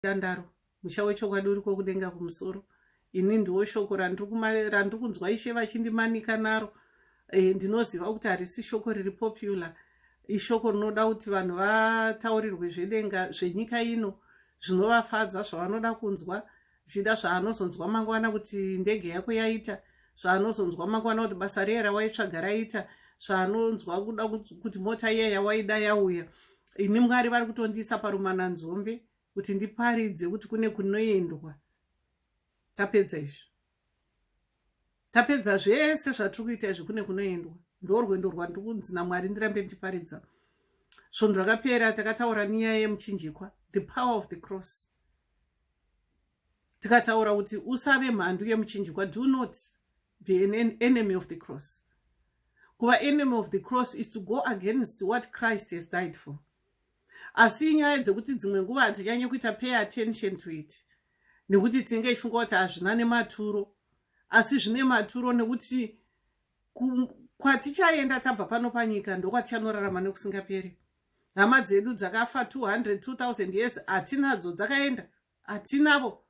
Tandaro, musha wechokwadi uriko kudenga kumusoro. Ini ndiwo shoko randiri kunzwa ishe vachindimanika naro. E, ndinoziva kuti harisi shoko riri popular. Ishoko rinoda kuti vanhu vataurirwe zvedenga zvenyika ino zvinovafadza zvavanoda kunzwa zvichida zvaanozonzwa mangwana kuti ndege yako yaita zvaanozonzwa mangwana kuti basa riye rawaitsvaga raita zvaanonzwa kuda kuti mota iya yawaida yauya ini mwari vari kutondiisa parumana nzombe kuti ndiparidze kuti kune kunoendwa tapedza izvi tapedza zvese zvatiri kuita izvi kune kunoendwa ndorwendo rwandiri kunzi namwari ndirambe ndichiparidza svondo rakapera takataura nenyaya yemuchinjikwa the power of the cross tikataura kuti usave mhandu yemuchinjikwa do not be an enemy of the cross kuva enemy of the cross is to go against what christ has died for asi inyaya dzekuti dzimwe nguva hatinyanye kuita pay attention to it nekuti tinenge tichifunga kuti hazvina nematuro asi zvine maturo nekuti kwatichaenda tabva pano panyika ndokwatichanorarama nekusingaperi hama dzedu dzakafa 200 2000 years hatinadzo dzakaenda hatinavo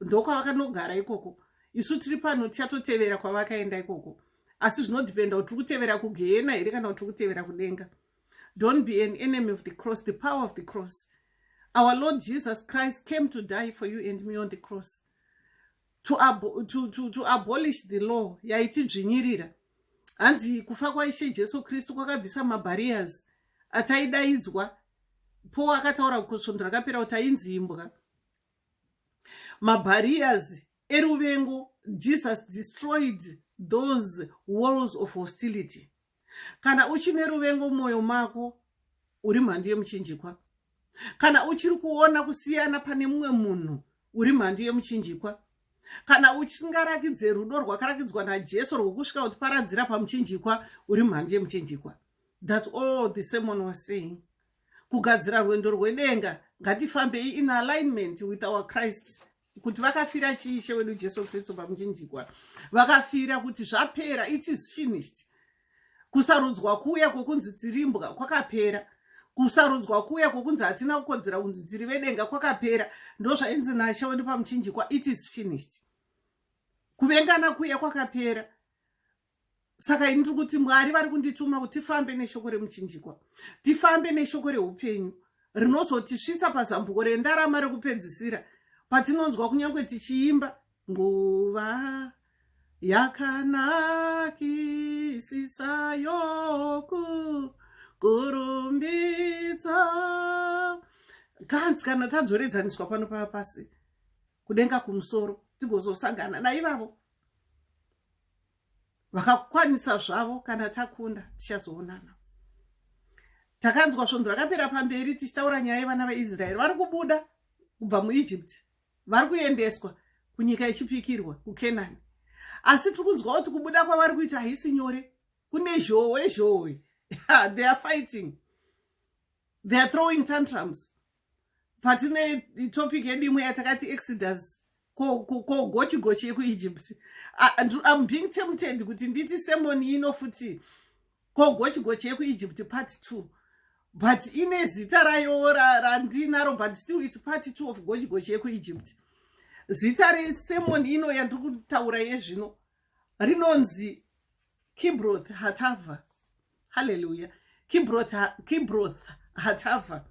ndokwavakanogara ikoko isu tiri pano tichatotevera kwavakaenda ikoko asi zvinodhipenda kuti tiri kutevera kugehena here kana kuti tiri kutevera kudenga don't be an enemy of the cross the power of the cross our lord jesus christ came to die for you and me on the cross to, ab to, to, to abolish the law yaitidzvinyirira hanzi kufa kwaishe jesu kristu kwakabvisa mabarriers ataidaidzwa po akataura kusvondo rakapera kuti ainzi imbwa mabarriers eruvengo jesus destroyed those walls of hostility kana uchine ruvengo mwoyo mako uri mhandu yemuchinjikwa kana uchiri kuona kusiyana pane mumwe munhu uri mhandu yemuchinjikwa kana uchisingarakidze rudo rwakarakidzwa najesu rwokusvika kutiparadzira pamuchinjikwa uri mhandu yemuchinjikwa That's all the sermon was saying. Kugadzira rwendo rwedenga ngatifambei in alignment with our Christ kuti vakafira chii ishe wedu Jesu Kristu pamuchinjikwa vakafira kuti zvapera it is finished kusarudzwa kuya kwokunzi tirimbwa kwakapera kusarudzwa kuya kwokunzi hatina kukodzera kunzi tiri vedenga kwakapera ndozvainzi nashe wedu pamuchinjikwa it is finished kuvengana kuya kwakapera saka ini tiri kuti mwari vari kundituma kuti tifambe neshoko remuchinjikwa tifambe neshoko reupenyu rinozotisvitsa pazambuko rendarama rekupedzisira patinonzwa kunyange tichiimba nguva yakanakisisa yoku kurumbidza kanzi kana tadzoredzaniswa pano pava pasi kudenga kumusoro tigozosangana naivavo vakakwanisa zvavo kana takunda tichazoonana takanzwa svondo rakapera pamberi tichitaura nyaya yevana veisraeri vari kubuda kubva muegypt vari kuendeswa kunyika ichipikirwa kukenani asi tiri kunzwa kuti kubuda kwavari kuita haisi nyore kune zhowe zhowe they are fighting they are throwing tantrums patine topic yedu imwe yatakati exodus kogochi gochi yekuegypt im being tempted kuti nditi semon ino futi kogochi gochi yekuegypt part two but ine zita rayo randinaro but still its part two of gochi gochi yekuegypt zita resemon ino yandiri kutaura yezvino rinonzi kibroth hatava haleluya kibroth hatafa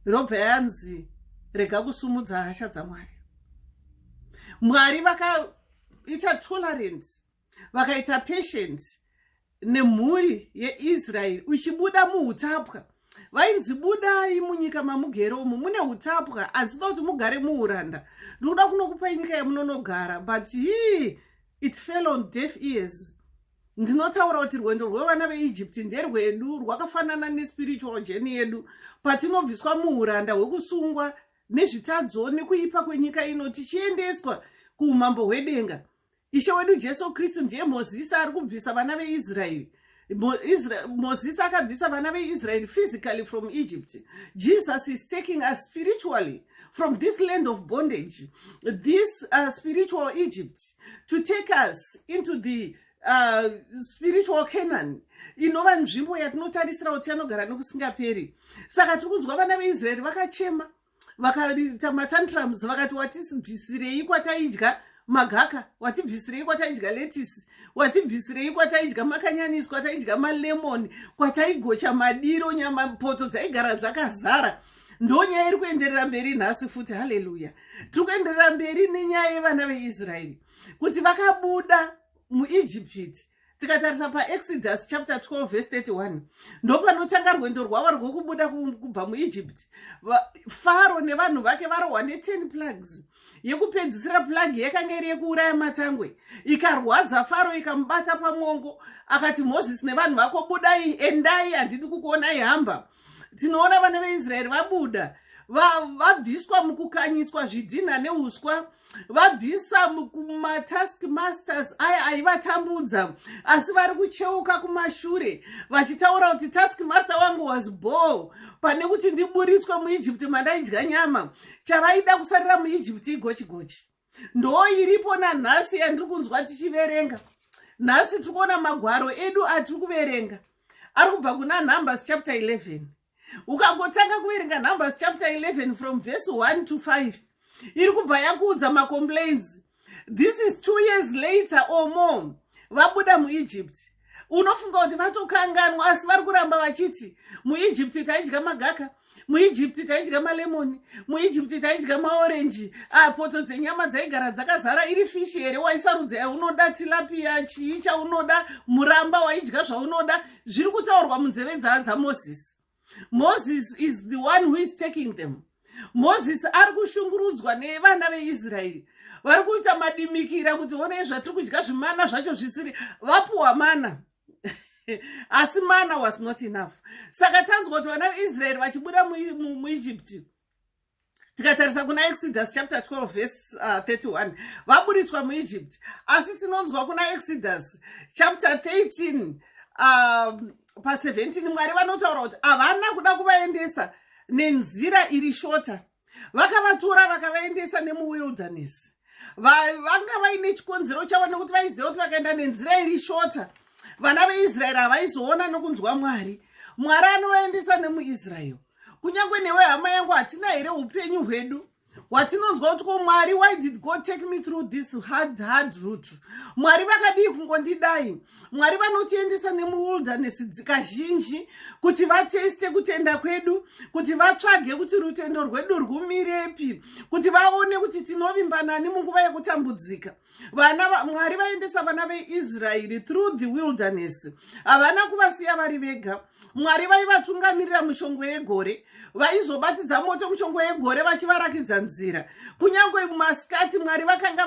robva yanzi rega kusumudza hasha dzamwari mwari vakaita tolerant vakaita patient nemhuri yeisraeri uchibuda muutapwa vainzi budai munyika mamugere umu mune utapwa asi toda kuti mugare muuranda ndikuda kunokupai nyika yamunonogara but hii it fell on deaf ears ndinotaura kuti rwendo rwevana veegypt nderwedu rwakafanana nespiritual jeni yedu patinobviswa muuranda hwekusungwa nezvitadzo nekuipa kwenyika ino tichiendeswa kuumambo hwedenga ishe wedu jesu kristu ndiye mozisi ari kubvisa vana veisraeri mozisi akabvisa vana veisraeri physically from egypt jesus is taking us spiritually from this land of bondage this uh, spiritual egypt to take us into the uh, spiritual canaan inova nzvimbo yatinotarisira kuti anogara nekusingaperi saka tiri kunzwa vana veisraeri vakachema vakaita matantrums vakati watibvisirei kwataidya magaka watibvisirei kwataidya letisi watibvisirei kwataidya makanyanisi kwataidya malemoni kwataigocha madiro nyama poto dzaigara dzakazara kwa ndonyaya iri kuenderera mberi nhasi futi haleluya tiri kuenderera mberi nenyaya yevana veisraeri kuti vakabuda muijipiti tikatarisa paexodus chapter 12 vese 31 ndopanotanga rwendo rwavo rwekubuda kubva muijipiti faro nevanhu vake varohwa ne10 plugs yekupedzisira plug yakanga iri yekuuraya matangwe ikarwadza faro ikamubata pamwongo akati moses nevanhu vako budai endai handidi kukuonai hamba tinoona vana veisraeri vabuda vabviswa mukukanyiswa zvidhinha neuswa vabvisa kumatask masters aya aivatambudza asi vari kucheuka kumashure vachitaura kuti task master wangu was ball pane kuti ndiburitswe muegypt mandaidya nyama chavaida kusarira muegypt igochigochi ndoo iripo nanhasi yandiri kunzwa tichiverenga nhasi tiri kuona magwaro edu atiri kuverenga ari kubva kuna numbers chapter 11 ukangotanga kuverenga numbers chapter 11 from verse 1 to 5 iri kubva yakuudza macomplains this is two years later or more vabuda muegypt unofunga kuti vatokanganwa asi vari kuramba vachiti muegypt taidya magaka muegypt taidya malemoni muegypt taidya maorenji ah, poto dzenyama dzaigara dzakazara iri fishi here waisarudza yaunoda tilapiya chii chaunoda muramba waidya zvaunoda zviri kutaurwa munzeve dzaa dzamosisi moses is the one who is taking them moses ari kushungurudzwa nevana veisraeri vari kuita madimikira kuti onei zvatiri kudya zvimana zvacho zvisiri vapuwa mana asi mana was not enough saka tanzwa kuti vana veisraeri vachibuda muegypti mu, mu tikatarisa kuna exodus chapter 12 verse uh, 31 vaburitswa muegypt asi tinonzwa kuna exodus chapter 13 um, pa 17 mwari vanotaura kuti havana kuda kuvaendesa nenzira iri shota vakavatora vakavaendesa nemuwilderness vanga vaine chikonzero chavo nekuti vaiziva kuti vakaenda nenzira iri shota vana veisraeri havaizoona nokunzwa mwari mwari anovaendesa nemuisraeri kunyange newe hama yangu hatina here upenyu hwedu watinonzwa kuti ko mwari why did god take me through this hard hard root mwari vakadii kungondidai mwari vanotiendesa nemuwilderness dzikazhinji kuti vateste kutenda kwedu kuti vatsvage kuti rutendo rwedu rwumirepi kuti vaone kuti tinovimbanani munguva yekutambudzika vana mwari vaendesa vana veisraeri through the wilderness havana kuvasiya vari vega mwari vaivatungamirira mushongwe yegore vaizobatidza moto mushongwe yegore vachivarakidza nzira kunyange masikati mwari vakanga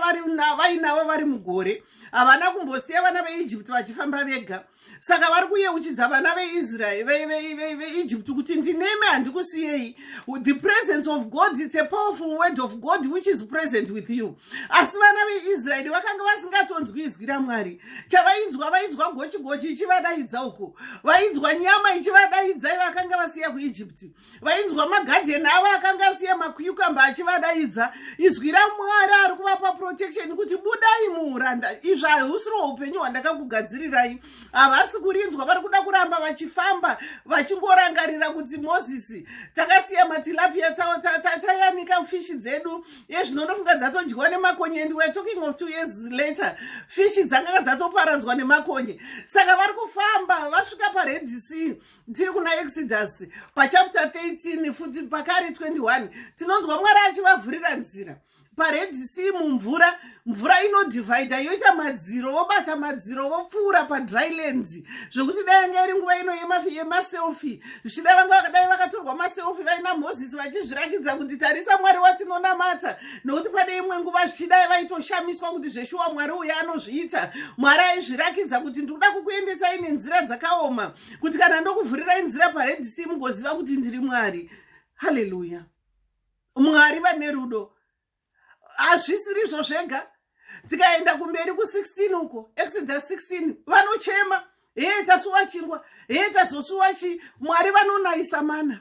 vainavo vari mugore havana kumbosiya vana veijipti vachifamba vega saka vari kuyeuchidza vana veisrael veegypt kuti ndinemi handikusiyei the presence of god its a powerful word of god which is present with you asi vana veisraeri vakanga vasingatonzwi izwi ramwari chavainzwa vainzwa gochigochi ichivadaidza uku vainzwa nyama ichivadaidza ivakanga vasiya kuegypti vainzwa magadheni avo akanga asiya makuyukamba achivadaidza izwi ramwari ari kuvapa protection kuti budai muuranda izvi hausiriwo upenyu hwandakakugadzirirai havasi kurinzwa vari kuda kuramba vachifamba vachingorangarira kuti mozisi takasiya matilapia tawo tayanika fishi dzedu yezvino ndofunga dzatodyiwa nemakonye and weare talking of two years later fishi dzanganga dzatoparadzwa nemakonye saka vari kufamba vasvika paredc tiri kuna exodus pachapter 13 futi pakari 21 tinonzwa mwari achivavhurira nzira pared sea mumvura mvura inodivhaida yoita madziro vobata madziro vopfuura padryland zvekuti dai yanga iri nguva ino yemaselfi zvichida vanga vakadai vakatorwa maselfi vaina moses vachizvirakidza kuti tarisa mwari watinonamata nokuti pane imwe nguva zvichidai vaitoshamiswa kuti zveshuwa mwari uya anozviita mwari aizvirakidza kuti ndikuda kukuendesai nenzira dzakaoma kuti kana ndokuvhurirai nzira pared sea mugoziva kuti ndiri mwari haleluya mwari vane rudo hazvisirizvo zvega tikaenda kumberi ku16 uko exodus 16 vanochema hee tasuwa chingwa hee tazosuwa chi mwari vanonaisa mana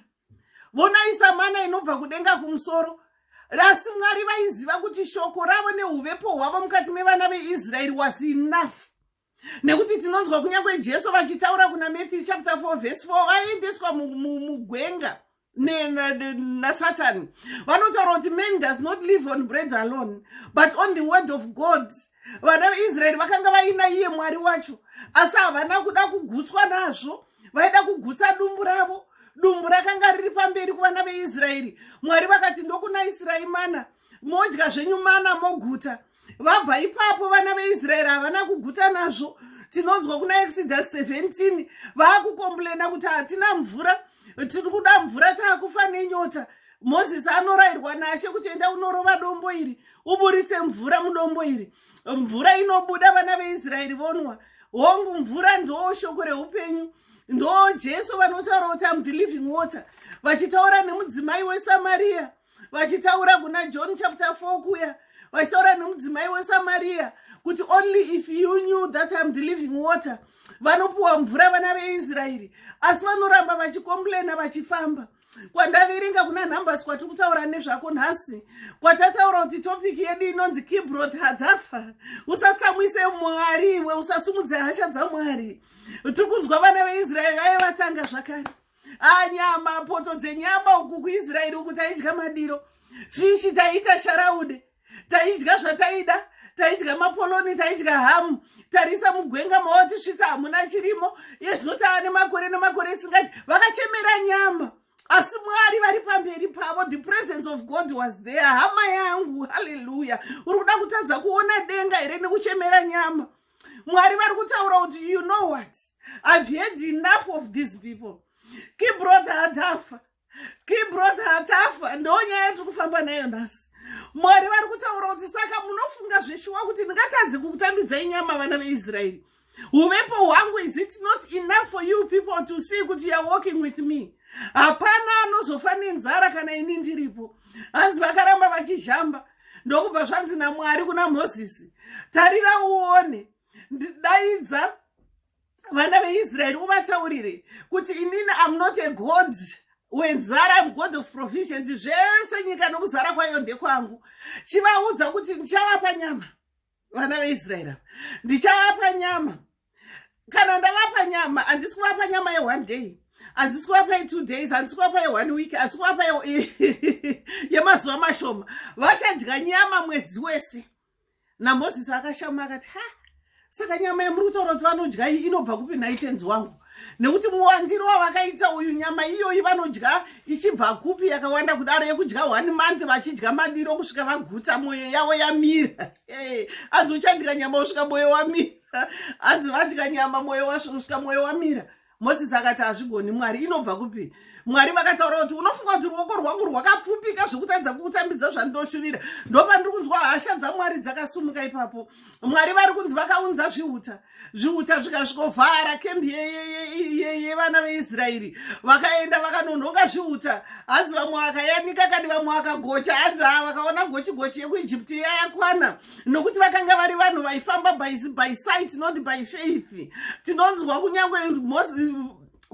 vonaisa mana inobva kudenga kumusoro asi mwari vaiziva kuti shoko ravo neuvepo hwavo mukati mevana veisraeri was enough nekuti tinonzwa kunyange jesu vachitaura kuna matthew chapter 4 vhesi 4 vaiendeswa mugwenga nasatani vanotaura kuti man does not live on bread alone but on the word of god vana veisraeri vakanga vaina iye mwari wacho asi havana kuda kugutswa nazvo vaida kugutsa dumbu ravo dumbu rakanga riri pamberi kuvana veisraeri mwari vakati ndokuna israi mana modya zvenyu mana moguta vabva ipapo vana veisraeri havana kuguta nazvo tinonzwa kuna exodus 17 vaakukomplena kuti hatina mvura tiri kuda mvura taakufa nenyota mozisi anorayirwa nashe kuti enda unorova dombo iri uburitse mvura mudombo iri mvura inobuda vana veisraeri vonwa hongu mvura ndoo shoko reupenyu ndoo jesu vanotaura kuti am the living water vachitaura nemudzimai wesamariya vachitaura kuna john chapter 4 kuya vachitaura nomudzimai wesamariya kuti only if you knew that im the living water vanopiwa mvura vana veisraeri asi vanoramba vachikomplaina vachifamba kwandaverenga kuna numbers kwatiri kutaura nezvako nhasi kwatataura kuti topiki yedu inonzi kibroth hadzafa usatsamwise mwari iwe usasumudze hasha dzamwari tiri kunzwa vana veisraeri vaye vatanga zvakare ah nyama poto dzenyama uku kuisraeri uku taidya madiro fishi taiita sharaude taidya zvataida taidya mapoloni taidya hamu tarisa mugwenga maotisvitsa hamuna chirimo yezvino tava nemakore nemakore isingati vakachemera nyama asi mwari vari pamberi pavo the presence of god was there hama yangu halleluya uri kuda kutadza kuona denga here nekuchemera nyama mwari vari kutaura kuti you know what i've heard enough of these people kibrother atafa kibrother atafa ndo nyaya yatiri kufamba nayo nhasi mwari vari kutaura kuti saka munofunga zveshuwa kuti ndingatadzi kukutambidzai nyama vana veisraeri uvepo hwangu is it not enough for you people to see kuti youare walking with me hapana anozofa nenzara kana ini ndiripo hanzi vakaramba vachizhamba ndokubva zvanzi namwari kuna mozisi tarira uone ndidaidza vana veisraeri uvataurire kuti inini am not a god wenzara am god of provisions zvese nyika nokuzara kwayo ndekwangu chivaudza kuti ndichavapa nyama vana veisraeri ava ndichavapa nyama kana ndavapa nyama handisi kuvapa nyama yeone day handisi kuvapa yetwo days handisi kuvapa yeone week asi kuvapa yemazuva mashoma vachadya nyama mwedzi wese namozisi akashama akati ha saka nyama yemuri kutaura kuti vanodya iyi inobva kupi nhai tenzi wangu nekuti muwandiro wavakaita uyu nyama iyoyi vanodya ichibva kupi yakawanda kudaro yekudya one month vachidya madiro kusvika vaguta mwoyo yavo yamira hanzi uchadya nyama usvika mwoyo wamira hanzi vadya nyama mwoyo wasvika mwoyo wamira mosisi akati hazvigoni mwari inobva kupi mwari vakataura kuti unofunga kuti ruoko rwangu rwakapfupika zvekutadza kukutambidza zvandinoshuvira ndopandiri kunzwa hasha dzamwari dzakasumuka ipapo mwari vari kunzi vakaunza zviuta zviuta zvikasvikovhara kembi yevana veisraeri vakaenda vakanonhonga zviuta hanzi vamwe vakayanika kani vamwe vakagocha hanzi haa vakaona gochi gochi yekuijipti yayakwana nokuti vakanga vari vanhu vaifamba by sight not by faith tinonzwa kunyange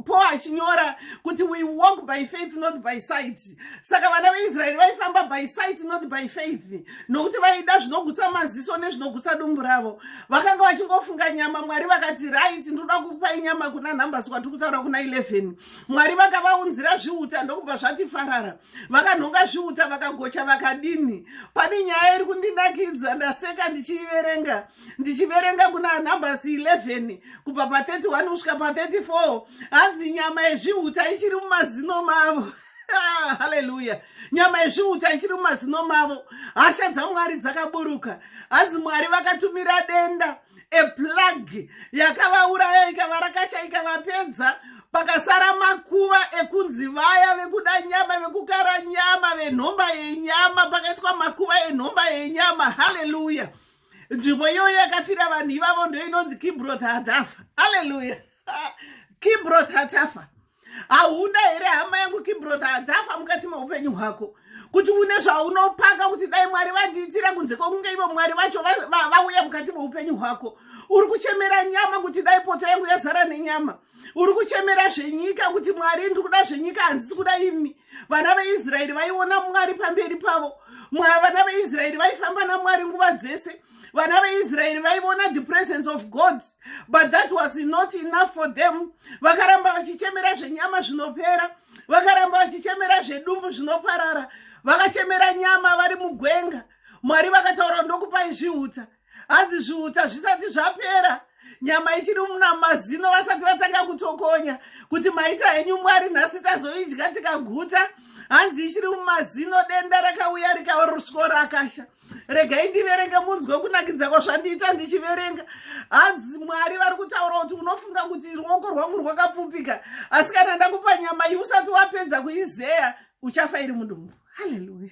paul achinyora kuti we walk by faith not by sight saka vana veisraeri vaifamba by sight not by faith nokuti vaida zvinogutsa maziso nezvinogutsa dumbu ravo vakanga vachingofunga nyama mwari vakati right ndoda kupai nyama kuna numbers kwatiri kutaura kuna 11 mwari vakavaunzira zviuta ndokubva zvati farara vakanhonga zviuta vakagocha vakadini pane nyaya iri kundinakidza ndaseka ndichiiverenga ndichiverenga kuna numbers 11 kubva pa31 kusvika pa34 hanzi nyama yezvihuta ichiri mumazino mavo ah, haleluya nyama yezvihuta ichiri mumazino mavo hasha dzamwari dzakaburuka hanzi mwari vakatumira denda eplagi yakavauraya ikava rakasha ikavapedza pakasara makuva ekunzi vaya vekuda nyama vekukara nyama venhomba yenyama pakaitwa makuva enhomba yenyama haleluya nzvimbo iyoyo yakafira vanhu ivavo ndoinonzi kibroth hatafa aleluya kibroth hatafa hauna here hama yangu kibroth hatafa mukati meupenyu hwako kuti une zvaunopaka kuti dai mwari vandiitira kunze kwokunge ivo mwari vacho vauya mukati meupenyu hwako uri kuchemera nyama kuti dai poto yangu yazara nenyama uri kuchemera zvenyika kuti mwari ndiri kuda zvenyika handisi kuda imi vana veisraeri vaiona mwari pamberi pavo vana veisraeri vaifamba namwari nguva dzese vana veisraeri vaiona the presence of god but that was not enough for them vakaramba vachichemera zvenyama zvinopera vakaramba vachichemera zvedumbu zvinoparara vakachemera nyama vari mugwenga mwari vakataura ndokupai zviuta hanzi zviuti hazvisati zvapera nyama ichiri muna mazino vasati vatanga kutokonya kuti maita henyu mwari nhasi tazoidya tikaguta hanzi ichiri mumazino denda rakauya rikarswo rakasha regai ndiverenge munzwe kunakidza kwazvandiita ndichiverenga hanzi mwari vari kutaura kuti unofunga kuti ruoko rwangu rwakapfupika asi kana ndakupa nyama iyi usati wapedza kuizeya uchafa iri mudumbu haleluya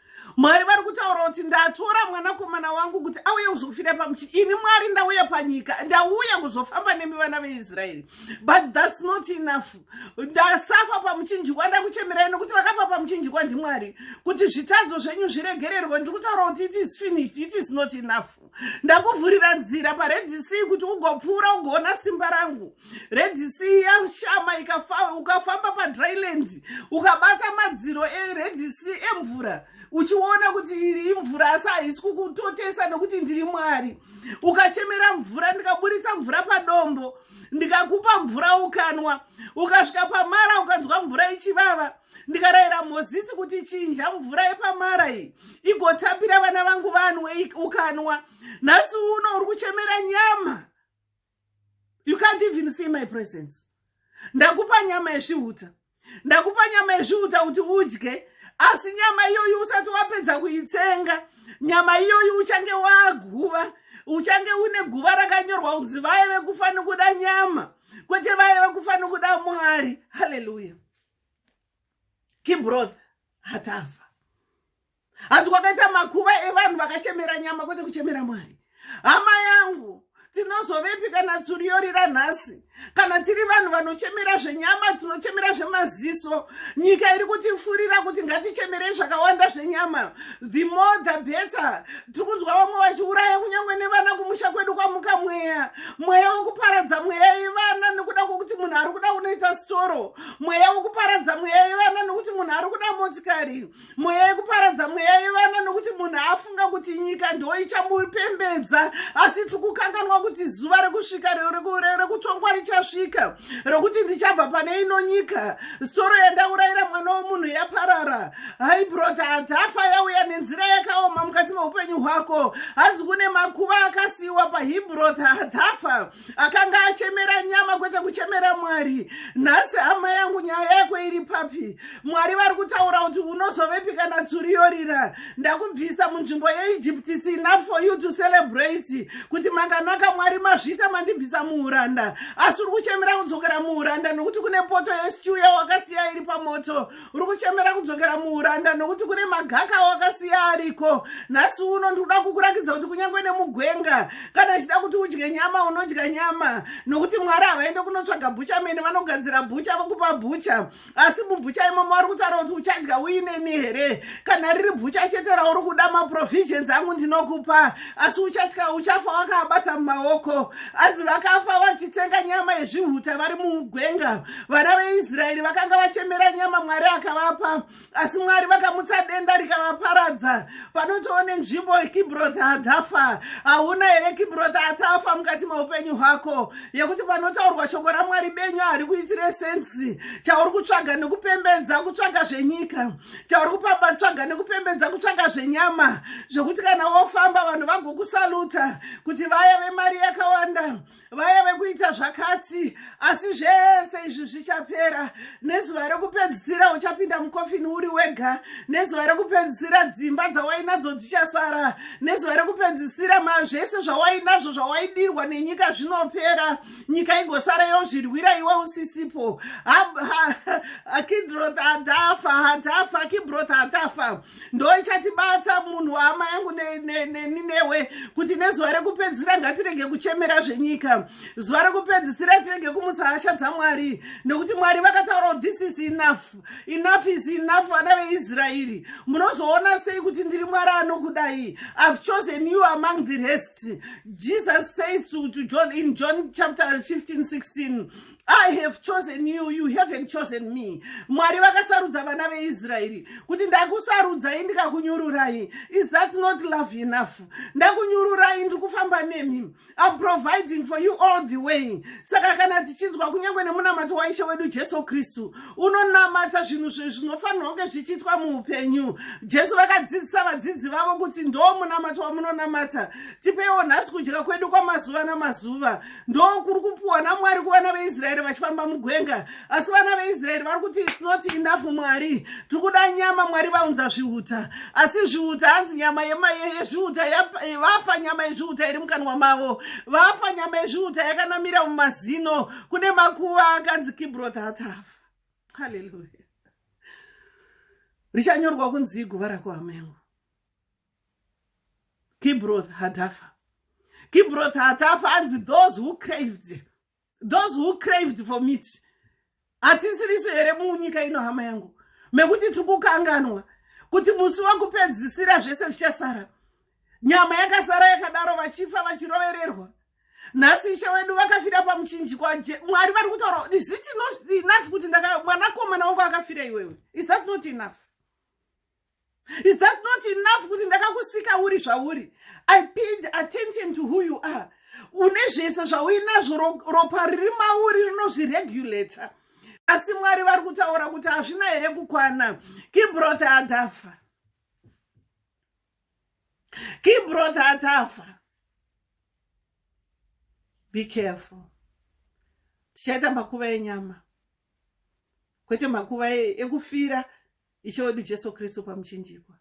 Mwari vari kutaura kuti ndatora mwanakomana wangu kuti auye kuzofira pamuchi ini mwari ndauya panyika ndauya kuzofamba nemi vana veisraeri but thats not enough ndasafa pamuchinjikwa ndakuchemerai nokuti vakafa pamuchinjikwa ndimwari kuti zvitadzo zvenyu zviregererwe ndiri kutaura kuti it is finished it is not enough ndakuvhurira nzira paredc kuti ugopfuura ugoona simba rangu redc yashama ukafamba padryland ukabata madziro eredc emvura uchiona kuti iri imvura asi haisi kukutotesa nokuti ndiri mwari ukachemera mvura ndikaburitsa mvura padombo ndikakupa mvura ukanwa ukasvika pamara ukanzwa mvura ichivava ndikarayira mozisi kuti chinja mvura yepamara iyi igotapira vana vangu vanwe ukanwa nhasi uno uri kuchemera nyama you can't even see my presence ndakupa nyama yezvihuta ndakupa nyama yezvihuta kuti udye asi nyama iyoyi usati wapedza kuitsenga nyama iyoyi uchange waguva uchange une guva rakanyorwa kunzi vaye vekufanira kuda nyama kwete vaye vekufanira kuda mwari haleluya kibroth hatafa hanzi kwakaita makuva evanhu vakachemera nyama kwete kuchemera mwari hama yangu tinozovepi kana tsuri yorira nhasi kana tiri vanhu vanochemera zvenyama tinochemera zvemaziso nyika iri kutifurira kuti ngatichemerei zvakawanda zvenyama the more the better tiri kunzwa vamwe vachiuraya kunyange nevana kumusha kwedu kwamuka mweya mweya wekuparadza mweya yevana nekuda kwokuti munhu ari kuda unoita storo mweya wekuparadza mweya yevana nokuti munhu ari kuda motikari mweya yekuparadza mweya yevana nokuti munhu afunga kuti nyika ndo ichamupembedza asi tiri kukanganwa kuti zuva rekusvika rekutongwa richasvika rokuti ndichabva pane ino nyika soro yandaurayira mwana wemunhu yaparara hai brota hadzafa yauya nenzira yakaoma mukati meupenyu hwako hanzi kune makuva akasiyiwa pahibroth hadzafa akanga achemera nyama kwete kuchemera mwari nhasi hama yangu nyaya yako iri papi mwari vari kutaura kuti unozovepi kana tsuri yorira ndakubvisa munzvimbo yeegypt its enough for you to celebrate kuti makanaka mwari mazvita mandibvisa muuranda asi uri kuchemera kudzokera muuranda nekuti kune poto yeskew yawakasiya iri pamoto uri kuchemera kudzokera muuranda nokuti kune magaka wakasiya ariko nhasi uno ndikuda kukurakidza kuti kunyange nemugwenga kana ichida kuti udye nyama unodya nyama nokuti mwari havaende kunotsvaga bhucha mene vanogadzira bhucha vokupa bhucha asi mubhucha imomo vari kutaura kuti uchadya uineni here kana riri bhucha chete rauri kuda maprovisions angu ndinokupa asi uchatya uchafa wakaabata mumaoko anzi vakafa vachitsenga nyama yezvihuta vari mugwenga vana veisraeri vakanga vachemera nyama mwari akavapa asi mwari vakamutsa denda rikavaparadza panotoone nzvimbo kibrotha atafa hauna here kibrotha atafa mukati meupenyu hwako yekuti panotaurwa shoko ramwari benyu hari kuitire sensi chauri kutsvaga nekupembedza kutsvaga zvenyika chauri kupamba tsvaga nekupembedza kutsvaga zvenyama zvekuti kana wofamba vanhu vagokusaluta kuti vaya vemari yakawanda vaya vekuita zvakati asi zvese izvi zvichapera nezuva rekupedzisira uchapinda mukofini uri wega nezuva rekupedzisira dzimba dzawainadzo dzichasara nezuva rekupedzisira zvese zvawainazvo zvawaidirwa nenyika zvinopera nyika igosara yozvirwira iwe usisipo akidrot atafa atafa akibroth atafa ndoichatibatsa munhu wahama yangu neni newe kuti nezuva rekupedzisira ngatirege kuchemera zvenyika zuva rekupedzisira tirege kumutsa hasha dzamwari nekuti mwari vakataura kuti this is enough enough is enough vana veisraeri munozoona sei kuti ndiri mwari anokudai ihave chosen you among the rest jesus says to, to john in john chapter 15 16 i have chosen you you haven't chosen me mwari vakasarudza vana veisraeri kuti ndakusarudzai ndikakunyururai is that not love enough ndakunyururai ndiri kufamba nemi im providing for you all the way saka kana tichinzwa kunyange nemunamato waishe wedu jesu kristu unonamata zvinhu zvinofanirwa kunge zvichiitwa muupenyu jesu vakadzidzisa vadzidzi vavo kuti ndo munamato wamunonamata tipeiwo nhasi kudya kwedu kwamazuva namazuva ndokuri kupuwa namwari kuvana veisraeri vachifamba mugwenga asi vana veisraeri vari kuti its not enough mwari tiri kuda nyama mwari vaunza zviuta asi zviuta hanzi nyama yezviuta vafa nyama yezviuta iri mukanwa mavo vafa nyama yezviuta yakanamira mumazino kune makuva akanzi kibrothatav haleluya richanyorwa kunzi iguva rako hamengo kibroth hatafa kibroth hatafa anzi those who craved those who craved for meat hatisirisu here munyika ino hama yangu mekuti tiri kukanganwa kuti musi wakupedzisira zvese zvichasara nyama yakasara yakadaro vachifa vachirovererwa nhasi ishe wedu vakafira pamuchinjiko mwari vari kutaura is it not enough kuti mwanakomana wangu akafira iwewe is that not enough is that not enough kuti ndakakusika uri zvauri i paid attention to who you are une zvese zvauinazvo ropa riri mauri rinozviregulator asi mwari vari kutaura kuti hazvina here kukwana kibrothe atafa kibrothe atafa be careful tichaita makuva enyama kwete makuva e-, ekufira e ishe wedu jesu kristu pamuchinjikwa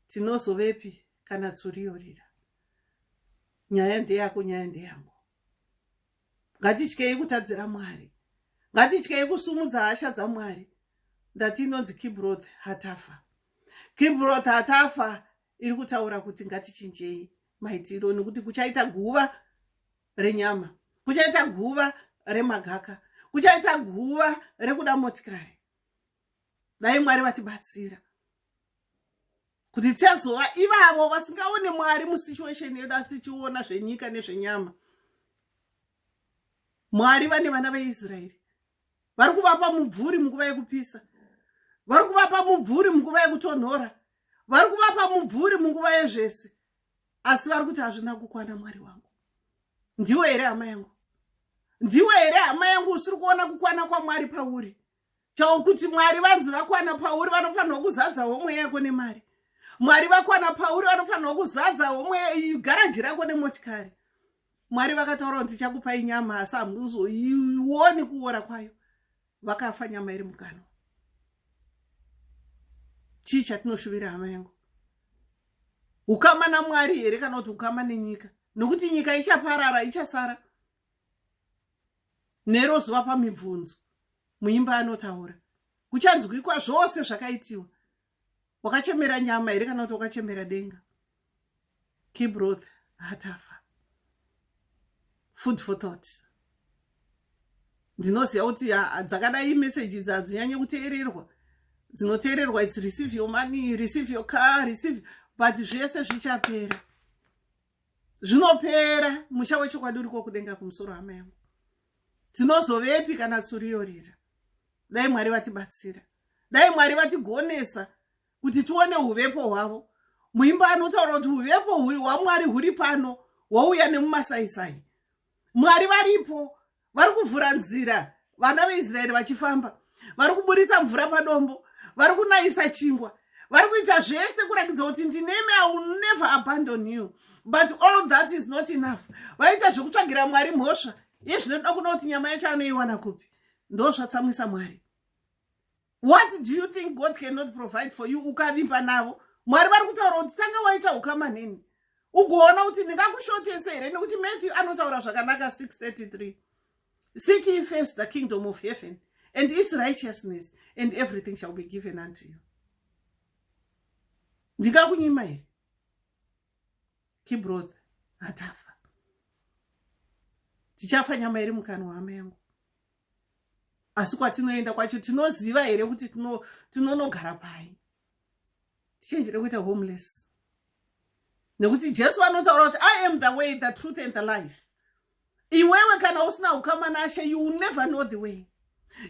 tinozovepi kana tsuriyorira nyaya ndeyako nyaya ndeyangu ngatityei kutadzira mwari ngatityei kusumudza hasha dzamwari ndati inonzi kibroth hatafa kibroth hatafa iri kutaura kuti ngatichinjei maitiro nekuti kuchaita guva renyama kuchaita guva remagaka kuchaita guva rekuda motikari dai mwari vatibatsira kuti tiazova ivavo vasingaone mwari musituation yedu asi tichiona zvenyika nezvenyama mwari vane vana veisraeri vari kuvapa mubvuri munguva yekupisa vari kuvapa mubvuri munguva yekutonhora vari kuvapa mubvuri munguva yezvese asi vari kuti hazvina kukwana mwari wangu ndiwo here hama yangu ndiwo here hama yangu usiri kuona kukwana kwamwari pauri chao kuti mwari vanzi vakwana pauri vanofanirwa kuzadza homwe yako nemari mwari vakwana pauri vanofanirwa kuzadza homwe garaji rako nemotikari mwari vakataura kuti chakupa inyama asi hamuzoioni kuora kwayo vakafa nyama iri mukanwa chii chatinoshuvira hama yangu ukama namwari here kana kuti ukama nenyika nokuti nyika ichaparara ichasara nero zuva pamibvunzo muimba anotaura kuchanzwikwa zvose zvakaitiwa wakachemera nyama here kana kuti wakachemera denga kibroth hatafa food for thought ndinoziva kuti dzakadai meseji idzi hadzinyanye kuteererwa dzinoteererwa its receive your money receive your car receive but zvese zvichapera zvinopera musha wechokwadi uriko kudenga kumusoro hama yangu tinozovepi kana tsuriyorira dai mwari vatibatsira dai mwari vatigonesa kuti tione uvepo hwavo muimba anotaura kuti uvepo hwamwari huri pano hwouya nemumasaisai mwari varipo vari kuvhura nzira vana veisraeri vachifamba vari kuburitsa mvura padombo vari kunayisa chingwa vari kuita zvese kurakidza kuti ndinemi i will never abandon you but all that is not enough vaita zvekutsvagira mwari mhosva yezvinoda kuda kuti nyama yacho anoiwana kupi ndo zvatsamwisa mwari what do you think god cannot provide for you ukavimba navo mwari vari kutaura kuti tanga waita ukama neni ugoona kuti ndingakushotese here nekuti matthew anotaura zvakanaka 633 seek ye first the kingdom of heaven and its righteousness and everything shall be given unto you ndingakunyima here kibroth hatafa tichafa nyama iri mukanwa hama yangu asi kwatinoenda kwacho tinoziva here kuti tinonogara pai tichenjere kuita homeless nekuti jesu vanotaura kuti i am the way the truth and the life iwewe kana usina ukama nashe you will never know the way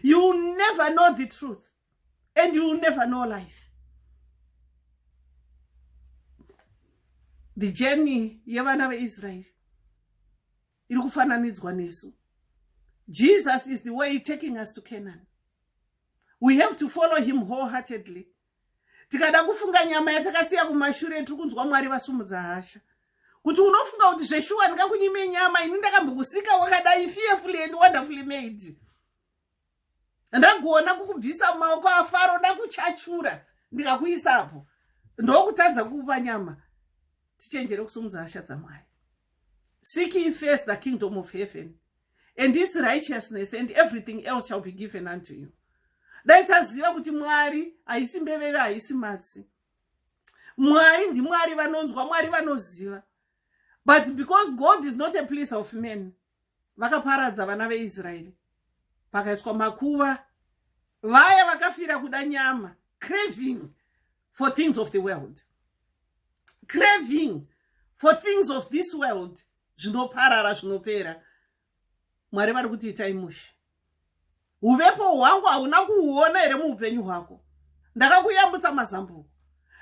you will never know the truth and you will never know life the journey yevana veisraeri iri kufananidzwa nesu jesus is the way taking us to canaan we have to follow him wholeheartedly tikada kufunga nyama yatakasiya kumashure tiri kunzwa mwari vasumudza hasha kuti unofunga kuti zveshuwa ndingakunyime nyama ini ndakambokusika wakadai fearfully and wonderfully made ndagona kukubvisa mumaoko afaro ndakuchachura ndikakuisapo ndokutadza kukupa nyama tichenjere kusumudza hasha dzamwari seek ye first the kingdom of heaven and its righteousness and everything else shall be given unto you dai taziva kuti mwari haisi mbeveve haisi matsi mwari ndimwari vanonzwa mwari vanoziva but because god is not a place of men vakaparadza vana veisraeri pakaiswa makuva vaya vakafira kuda nyama craving for things of the world craving for things of this world zvinoparara zvinopera mwari vari kuti itai mushe uvepo hwangu hauna kuhuona here muupenyu hwako ndakakuyambutsa mazambuko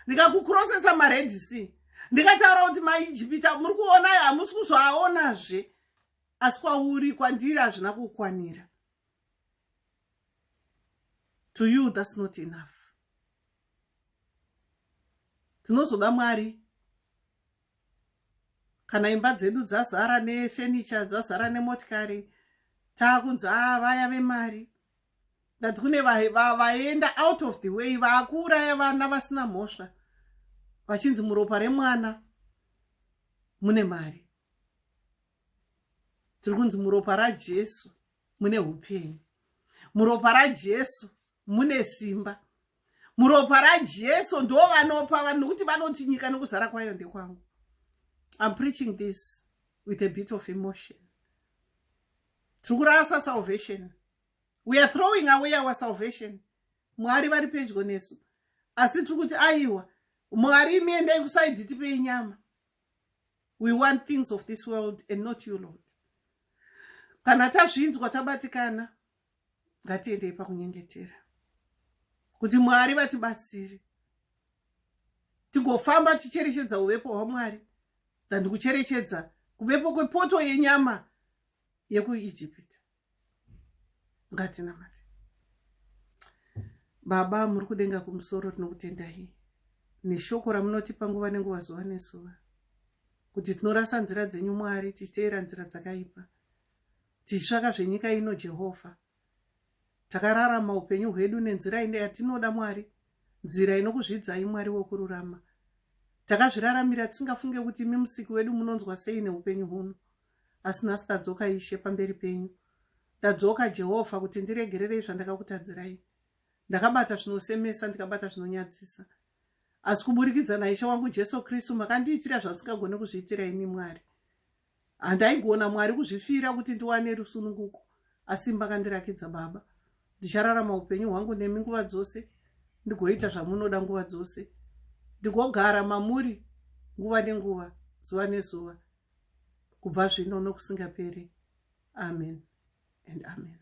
ndikakukrosesa mared sea ndikataura kuti maijipita muri kuona ayo hamusi kuzvaaonazve asi kwauri kwandiri hazvina kukwanira to you thats not enough tinozoda mwari kana imba dzedu dzazara nefenicha dzazara nemotikari taakunzi a vaya vemari that kune vaenda out of the way vaakuuraya vana vasina mhosva vachinzi muropa remwana mune mari tiri kunzi muropa rajesu mune upenyu muropa rajesu mune simba muropa rajesu ndo vanopa vanhu nokuti vanoti nyika nokuzara kwayo ndekwangu im preaching this with a bit of emotion tiri kurasa salvation we are throwing away our salvation mwari vari pedyo nesu asi tiri kuti aiwa mwari imi endai kusaidhi tipei nyama we want things of this world and not you lord kana tazvinzwa tabatikana ngatiendei pakunyengetera kuti mwari vatibatsire tigofamba ticherechedza uvepo hwamwari than kucherechedza kuvepo kwepoto yenyama yekuijipita ngatinamati baba muri kudenga kumusoro tinokutendai neshoko ramunotipa nguva nenguva zuva nezuva kuti tinorasa nzira dzenyu mwari tichiteera nzira dzakaipa tichitsvaka zvenyika ino jehovha takararama upenyu hwedu nenzira ine yatinoda mwari nzira inokuzvidzai mwari wokururama takazviraramira tisingafunge kuti imi musiki wedu munonzwa sei neupenyu huno asi nhasi tadzoka ishe pamberi penyu ndadzoka jehovha kuti ndiregererei zvandakakutadzirai ndakabata zvinosemesa ndikabata zvinonyadzisa asi kuburikidza naishe wangu jesu kristu makandiitira zvandisingagone kuzviitira ini mwari handaigona mwari kuzvifira kuti ndiwane rusununguko asi makandirakidza baba ndichararama upenyu hwangu nemi nguva dzose ndigoita zvamunoda nguva dzose ndigogara mamuri nguva nenguva zuva nezuva kubva zvino nokusingaperi amen and amen